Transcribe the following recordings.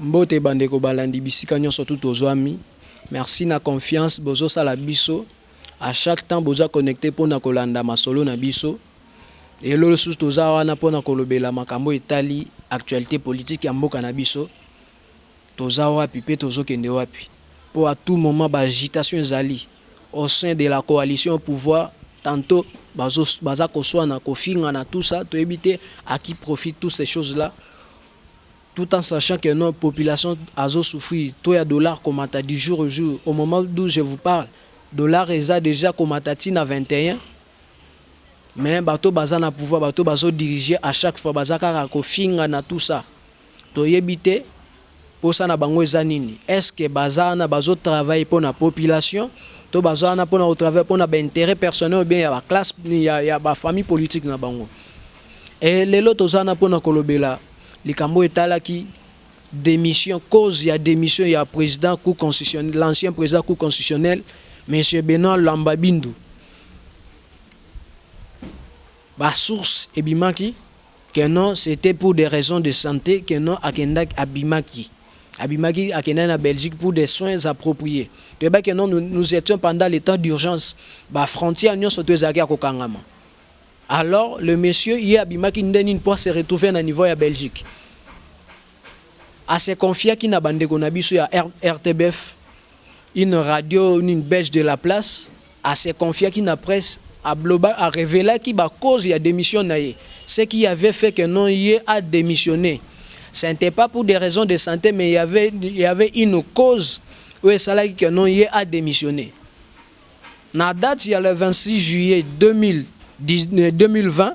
Mbote ba ndeko balandi bisika nionso tout ozwami merci na confiance bozo sala biso a chaque temps boza connecte pona kolanda masolo na biso lelo lisusu toza wana pona kolobela makambo etali actualite politique ya mboka na biso Toza wapi mpe tozo kende wapi? Mpo à tout moment ba agitations ezali au sein de la coalition au pouvoir, tantot bazo baza koswana, kofingana tout ça toyebi te à qui profite toutes ces choses là? Tout en sachant que nos populations azo souffrir, taux ya dollar komata du jour au jour, au moment d'où je vous parle dollar eza dejà komata ti na 21 mais bato baza na pouvoir, bato bazo diriger à chaque fois baza kaka kofingana tout ça. Toyebi te posa na bango eza nini est ce que baza wana bazo travailler pona population to baza wana pona ko travailler pona ba interet personnel ou bien ya ba classe ya ba famille politique na bango et lelo toza wana pona kolobela likambo oyo etalaki demission cause ya demission ya president cour constitutionnel l'ancien president cour constitutionnel monsieur Benoit Lamba Bindu ba source ebimaki que non c'etait pour des raisons de sante que non akendaki abimaki abimaki akendaki na Belgique pour des soins appropries toyebaki que non nous etions pendant le temps d'urgence ba frontières nionso tout ezalaki ya kokangama alors le monsieur ye abimaki nde nini pour se retrouver na niveau ya Belgique a se confiaki na bandeko na biso ya RTBF une radio nini belge de la place a se confiaki na presse a bloba a revelaki ba cause ya demission na ye ce qui avait fait que non ye a demissionne ce n'etait pas pour des raisons de sante mais il y avait il y avait une cause oyo esalaki que non ye a demissionne na date ya le 26 juillet 2000 2020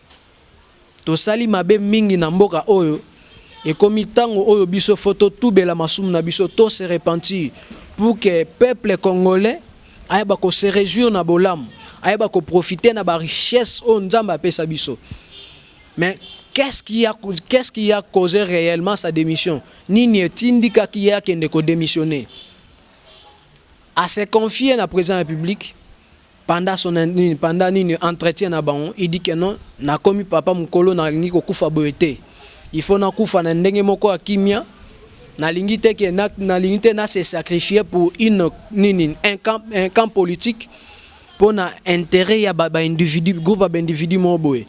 Tosali mabe mingi na mboka oyo, ekomi tango oyo biso faut to tubela masumu na biso, to se repentir pour que peuple congolais ayeba ko se rejouir na bolamu, ayeba ko profiter na ba richesses oyo Nzambe apesa biso. Mais qu'est ce qui a qu'est ce qui a cause reellement sa demission? Nini etindikaki ye akende ko demissionner? A se confier na President ya Republique? Pendant son nini pendant nini entretien na bango il dit que non na komi papa mukolo na lingi ko kufa boye te il faut na kufa na ndenge moko ya kimia na lingi te que na, na lingi te na se sacrifier pour une nini un camp, un camp politique pona intérêt ya ba, ba individu groupe ya ba individu moko boye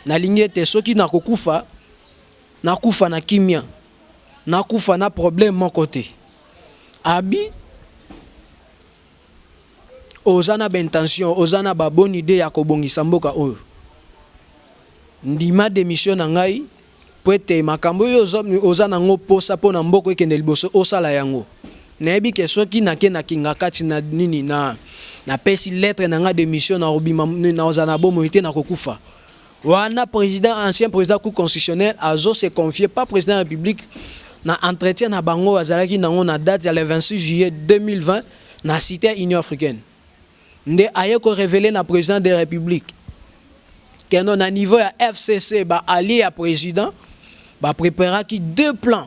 na lingi ete soki na kokufa na kufa na kimia na kufa na problème moko te abi oza na ba intentions oza na ba bonne idee ya kobongisa mboka oyo ndima demission na ngai po ete makambo oyo oza na ngo posa po na mboko ekende liboso osala yango nayebi ke soki na ke na kingakati na nini na na pesi lettre na nga demission na obima na ozana bomo ete na kokufa Wana president ancien president cour constitutionnelle azo se confier pas president ya republique na entretien na bango azalaki nango na date ya le 26 juillet 2020 na cite ya Union africaine nde aye ko reveler na president de republique keno na niveau ya FCC ba alliés ya president ba preparaki deux plans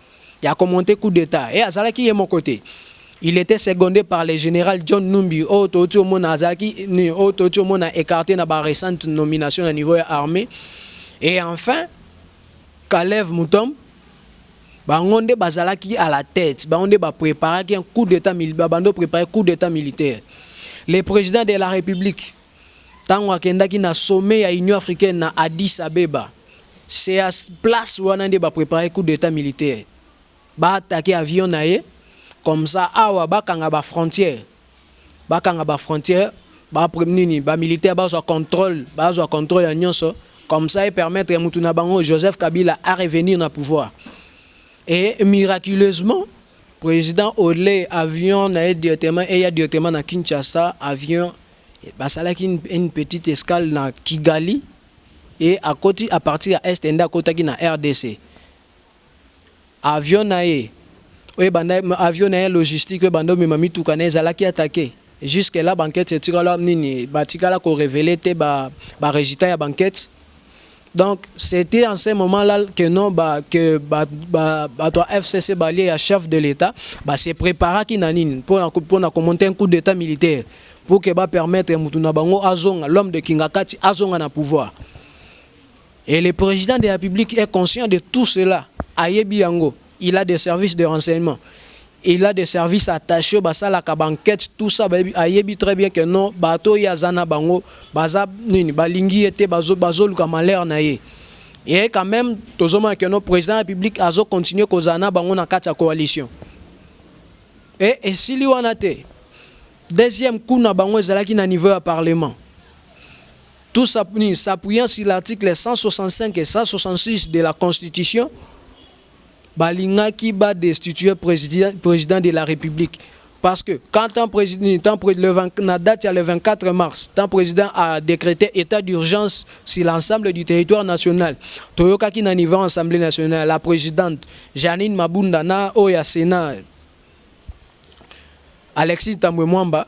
ya ko monter coup d'etat et azalaki ye moko te il etait secondé par le general John Numbi oyo touti omona azalaki ni oyo touti omona écarté na ba recentes nominations na niveau ya armée et enfin Kalev Mutombo bango nde bazalaki à la tête bango nde ba préparaki un coup d'état militaire bando préparer coup d'état militaire le président de la république tango akendaki na sommet ya Union africaine na Addis Abeba, c'est à place wana nde ba preparer coup d'Etat militaire, ba attaquer avion na ye, comme ça awa bakanga ba frontières, bakanga ba frontières, ba nini, ba militaires bazwa controle, bazwa controle ya nionso, comme ça e permettre mutu na bango Joseph Kabila a revenir na pouvoir. Et miraculeusement, President au lieu avion na ye directement eya directement na Kinshasa, avion Basalaki une petite escale na Kigali et akoti à partir ya Est nde akotaki na rdc. Avion na ye oyo ebanda, avion na ye logistique oyo ebanda omema mituka na ye ezalaki attaquer. Jusque là ba enquetes etikala nini? Batikala ko reveler te ba resultats ya ba enquetes. Donc c'etait en ce moment là que non ba que ba ba bato ya FCC balie ya chef de l'Etat ba se preparaki na nini mpo na mpo na komonte un coup d'Etat militaire pour que ba permettre mutu na bango azonga l'homme de Kingakati azonga na pouvoir et le président de la République est conscient de tout cela ayebi yango il a des services de renseignement Il a des services attaches basalaka ba enquetes tout ça bayebi ayebi très bien que non bato oyo ye aza na bango baza nini balingi ye te bazo bazoluka malheur na ye et quand meme tozomona que non president ya republique azo continuer kozala na bango na kati ya coalition et esili wana te deuxième coup na bango ezalaki na niveau ya parlement tout ça s'appuyant sur l'article 165 et 166 de la constitution balingaki ba destituer president de la republique parce que quand tant na date ya le 24 mars tant president a decrete etat d'urgence sur l'ensemble du territoire national toyokaki na niveau assemblée nationale la presidente Janine Mabunda na oyo ya Sénat Alexis Tambwe Mwamba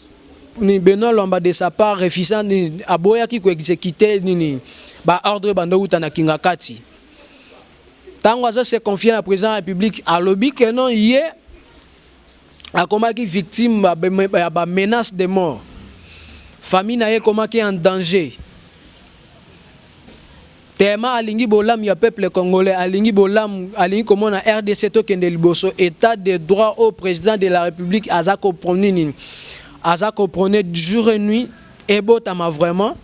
Nini Benoit Lwamba de sa part refusa nini aboyaki ko executer nini ba ordres ebanda owuta na kingakati tango azo se confier na president ya republique alobi que non ye akomaki victime ya ba menaces de mort famille na ye ekomaki en danger. Tellement alingi bolamu ya peuple congolais, alingi bolamu, alingi komona rdc tokende liboso, etat de droit oyo president de la republique aza ko prone nini? Aza ko prone jour et nuit ebotama vraiment,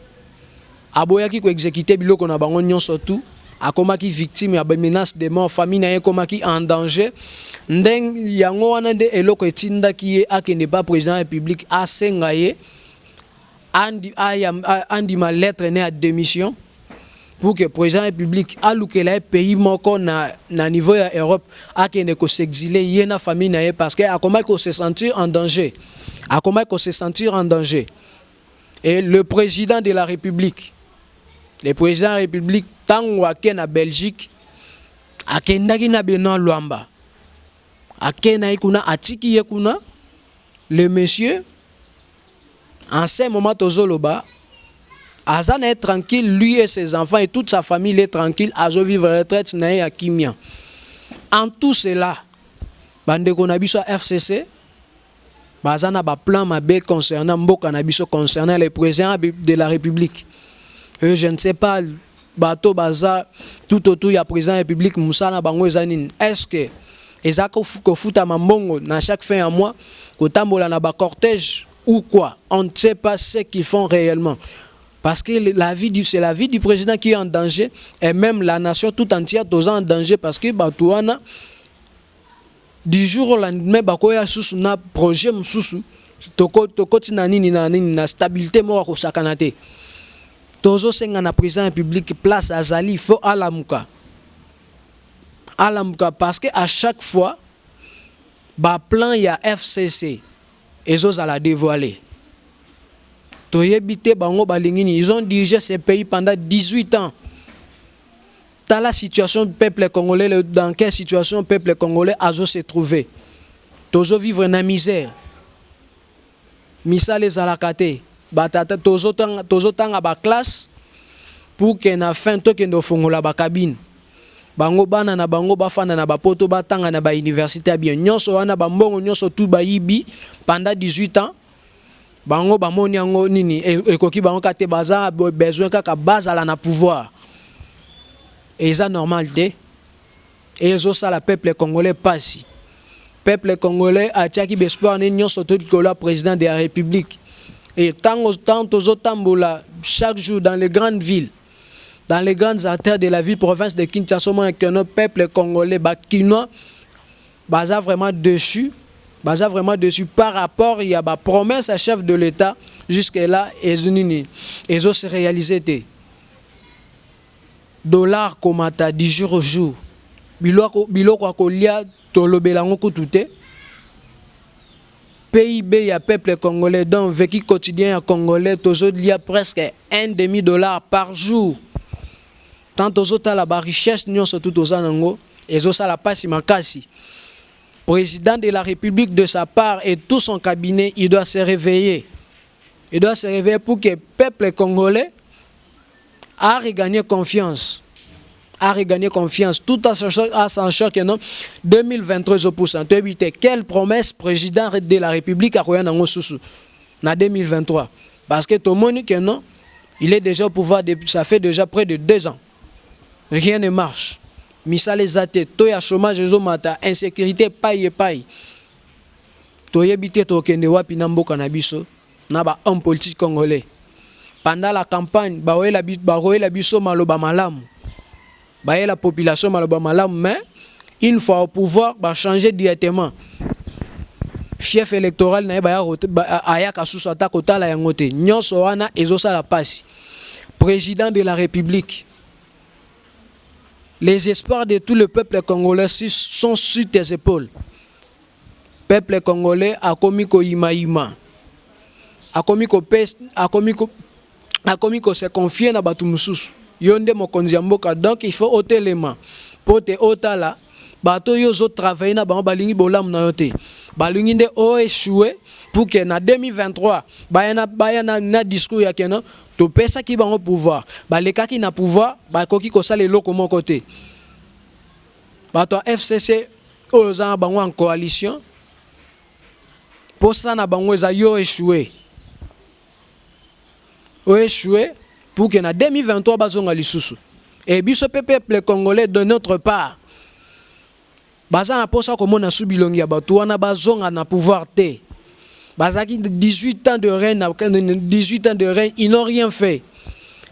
aboyaki ko executer biloko na bango nionso tout, akomaki victime ya ba menaces de mort, famille na ye ekomaki en danger, ndenge yango wana nde eloko etindaki ye akende epa president ya republique asenga ye andima lettre ne ya demission pour que président ya public alukela ye pays moko na, na niveau ya Europe akende ko s'exiler ye na famille na ye parce que akomaki ko se sentir en danger akomaki ko se sentir en danger et le président de la république le président ya république ntango ake na belgique akendaki na benoit lwamba akendaki kuna atiki ye kuna le monsieur En ce moment tozo loba aza naye tranquille lui et ses enfants et toute sa famille il est tranquille azo vivre retraite naye ya kimia. En tout cela ba ndeko na biso ya FCC baza na ba plan mabe concernant mboka na biso concernant le president de la republique. Et je ne sais pas Bato baza tout autour ya president ya republique musala na bango eza nini? Est ce que eza kofutama mbongo na chaque fin ya mois? Kotambola na ba corteges ou quoi? On ne sait pas ce qu'ils font reellement parce que la vie du c'est la vie du president qui est en danger et meme la nation tout entière toza en danger parce que bato wana du jour au lendemain bakoya susu na projet mosusu toko tokoti na nini na nini na stabilité moko akosakana te tozosenga na président ya publique place azali fo alamuka alamuka parce que à chaque fois baplan ya fcc ezozala dévoile toyebi te bango balingi nini ils ont dirigé ce pays pendant 18 ans Tala situation peuple congolais le dans quelle situation peuple congolais azo se trouver tozo vivre na misère misala ezalaka te ba tata tozo tanga tozo tanga ba classe pour que na fin tokende ofongola ba cabine bango bana na bango bafanda na bapoto batanga na ba université ya bien nyonso wana ba mbongo nyonso tout bayibi pendant 18 ans Bango bamoni yango nini ekoki bango kaka te baza besoin kaka bazala na pouvoir eza normal te ezosala peuple congolais pasi peuple congolais atiaki bespoir ne nyonso to likolo ya président de la république et ntango ntango tozotambola chaque jour dans les grandes villes dans les grandes artères de la ville province de kinshasa omona que no peuple congolais bakinois Baza vraiment deçu baza vraiment deçu par rapport ya ba promesses ya chef de l'etat jusque là ezo nini ezo se realiser te dollars komata du jour au jour biloko biloko ya kolia tolobela yango kutu te PIB ya peuple congolais donc vécu quotidien ya congolais tozo lia presque un demi dollar par jour Tant tozo tala ba richesses nionso tout toza na ngo ezo sala pasi makasi. President de la republique de sa part et tout son cabinet il doit se reveiller. Il doit se reveiller pour que peuple congolais a regagner confiance. A regagner confiance tout à sachant que non 2023 ezo poussa to éviter quelle promesse president de la republique akoya na ngo susu na 2023 parce que tomoni que non Il est dejà au pouvoir depuis ça fait dejà près de deux ans. Rien ne marche. Misala eza te, taux ya chômage ezo mata, insécurité epai epai. Toyebi te tokende wapi na mboka na biso na ba hommes politiques congolais. Pendant la campagne, bakoyela biso maloba malamu. Bayela population maloba malamu mais une fois au pouvoir ba changer directement fief electoral na ye baya ayaka susu ata kotala yango te nyonso wana ezosala pasi président de la république les espoirs de tout le peuple congolais sont sur tes épaules peuple congolais akomi koyimayima akomi kopesa akomi ko akomi ko se confier na batu mususu yo nde mokonzi ya mboka donc il faut otelema po te otala bato yo ozo travailler na bango balingi bolamu na yo te balingi nde o echoue pour que na 2023 baya na baya na, na discours ya keno topesaki bango pouvoir balekaki na pouvoir bakoki kosala eloko moko te bato ya FCC oyo oza na bango en coalition posa na bango eza yo echoue o echouer pour que na 2023 bazonga lisusu et biso pe peuple congolais de notre part baza na posa komona su bilongi ya bato wana bazonga na pouvoir te bazalaki 18 ans de règne 18 ans de règne ils n'ont rien fait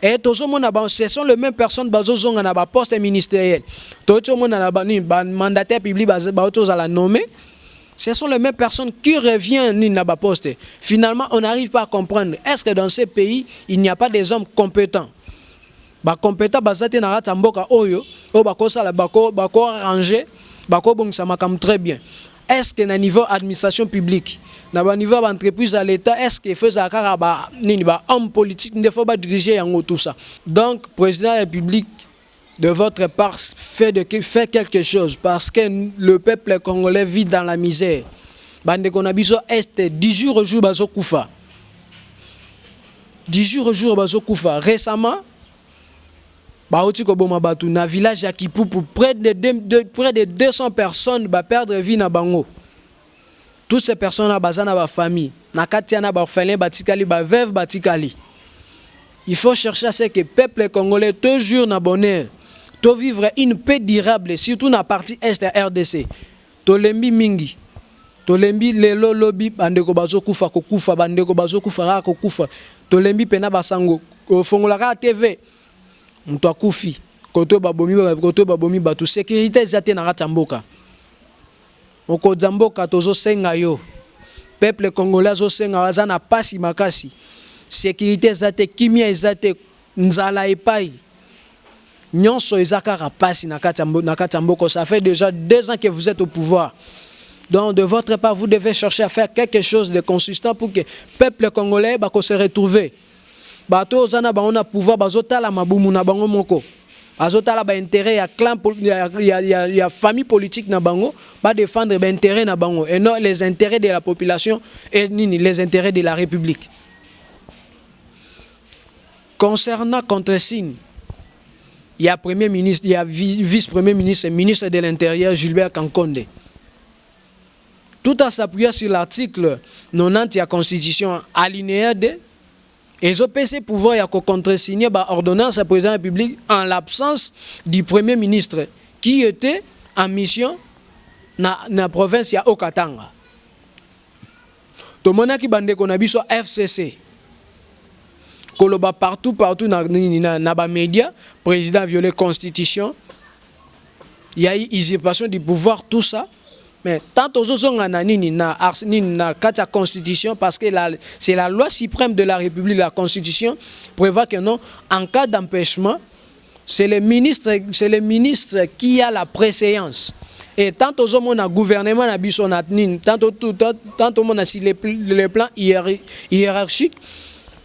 et tozomona ba ce sont les mêmes personnes bazozonga na ba poste ministériel toyoti omona na ba mandataire public baoki ozala nommé Ce sont les mêmes personnes qui reviennent na ba poste. Finalement, on n'arrive pas à comprendre. Est-ce que dans ce pays, il n'y a pas des hommes compétents Ba compétents bazate na rata mboka oyo, oyo bako sala bako bako ranger, bako bongisa makam très bien. Est-ce que na niveau administration publique, na ba niveau ba entreprise à l'état, est-ce que faisait kaka ba nini ba hommes politiques nde faut ba diriger yango tout ça. Donc président de la République de votre part fait de fait quelque chose parce que le peuple congolais vit dans la misère bande qu'on a biso est du jour au jour bazo kufa du jour au jour bazo kufa récemment bauti koboma bato na village ya Kipupu près de, de, de, près de 200 personnes ba perdre vie na bango Toutes ces personnes là baza na ba famille na kati ya na ba orphelins batikali ba veuves batikali. Il faut chercher à ce que peuple congolais to jour na bonheur to vivre une paix durable surtout na partie est ya RDC. Tolembi mingi. Tolembi lelo lobi bandeko bazokufa kokufa bandeko bazokufa kaka kokufa. Tolembi pena basango ofongola kaka TV moto akufi koto babomi koto babomi bato sécurité eza te na kati ya mboka. Mokonzi ya mboka tozo senga yo peuple congolais azo senga yo aza na pasi makasi securite eza te kimia eza te nzala epayi nionso eza kaka pasi na kati na kati ya mboka ça fait dejà deux ans que vous etes au pouvoir donc de votre part vous devez chercher à faire quelque chose de consistant pour que peuple congolais ba ko se retrouver Bato oyo oza na bango na pouvoir bazo tala mabumu na bango moko. Azo tala ba intérêt ya clan ya, ya, ya, ya famille politique na bango, ba défendre ba intérêt na bango et non les intérêts de la population et nini les intérêts de la république. Concernant contre signe il y a premier ministre, il y a vice-premier ministre, ministre de l'Intérieur, Gilbert Kankonde. tout en s'appuyant sur l'article 90 ya constitution alineya 2 ezo pesa ye pouvoir ya ko contresigner ba ordonnances ya president ya Republique en l'absence du premier ministre qui était en mission na, na province ya Haut-Katanga. Tomonaki bandeko na biso FCC koloba partout partout na, na, na ba media president viole constitution ya usurpation du pouvoir tout ça mais tant tozozonga na nini na ars nini na kati ya constitution parce que la, c'est la loi suprême de la république la constitution prévoit que non en cas d'empêchement c'est le ministre c'est le ministre qui a la préséance et tant tozomona gouvernement na biso na nini tant tomona si le, le plan hiérarchique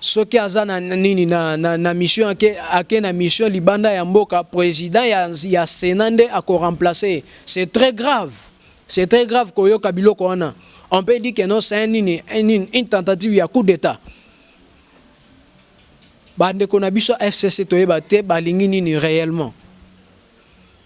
soki aza na nini na, na, na mission ake, ake na mission libanda ya mboka president ya, ya senat nde akoremplace c'est très grave c'est très grave koyoka biloko wana on peut dire que non c'est nini une, une tentative ya coup d'état bandeko na biso fcc toyeba te balingi nini réellement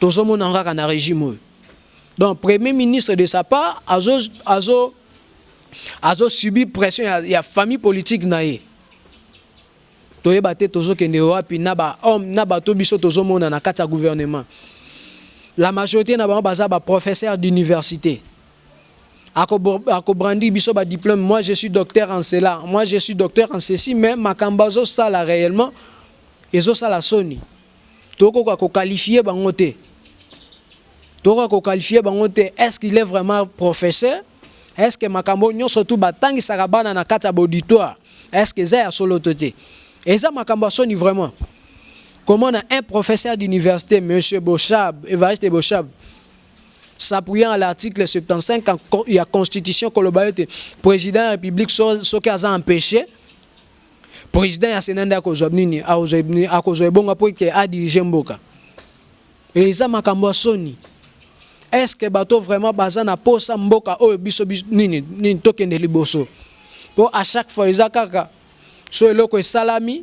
tozomona yango kaka na regime oyo donc premier ministre de sa part azo azo azo subi pression ya, ya famille politique na ye toyeba te tozokende wapi na ba homme na bato biso tozomona na kati ya gouvernement la majorité na bango baza ba professeur d'université akobrandi biso ba diplôme moi je suis docteur en cela moi je suis docteur en ceci mais makambo azosala réellement ezosala soni Tokoka ko qualifier bango te. Tokoka ko qualifier bango te. Est-ce qu'il est vraiment professeur? Est-ce que makambo nyonso tu batangisaka bana na kati ya bauditoire? Est-ce que eza ya solo to te? Eza makambo ya soni vraiment. Comment on a un professeur d'université, M. Boshab, Evariste Boshab, s'appuyant à l'article 75 de la Constitution, que le président de la République soit empêché President ya Senat nde akozwa nini? Akozwa ebonga mpo ete a diriger mboka? Eza makambo ya soni. Est ce que bato vraiment baza na posa mboka oyo biso nini nini tokende liboso po à chaque fois eza kaka so eloko esalami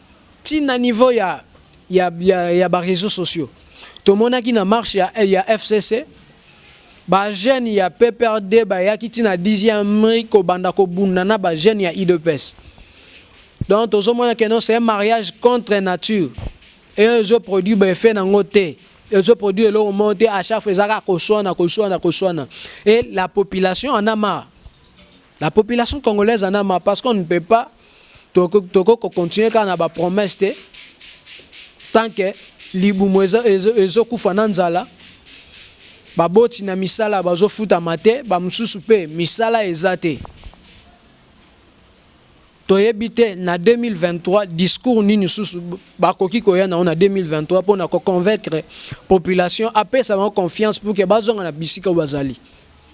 Ti na niveau ya ya ya, ya ba reseaux sociaux tomonaki na marche ya, ya FCC ba jeunes ya PPRD bayaki ti na 10e rue kobanda kobunda na ba jeunes ya IDPS. Donc tozomona que non c'est un mariage contre nature et ezo produit ba effet nango te ezo produit eloko moko te à chaque fois ezaka koswana koswana koswana et la population en a marre la population congolaise en a marre parce qu'on ne peut pas tokoki ko continuer kaka na ba promesse te tant que libumu ezokufa na nzala baboti na misala bazofutama te bamosusu mpe misala eza te toyebi te na 2023 discours nini susu bakoki koya nango na 2023 mpo na koconvaincre population apesa bango confiance pour ke bazonga na bisika oyo bazali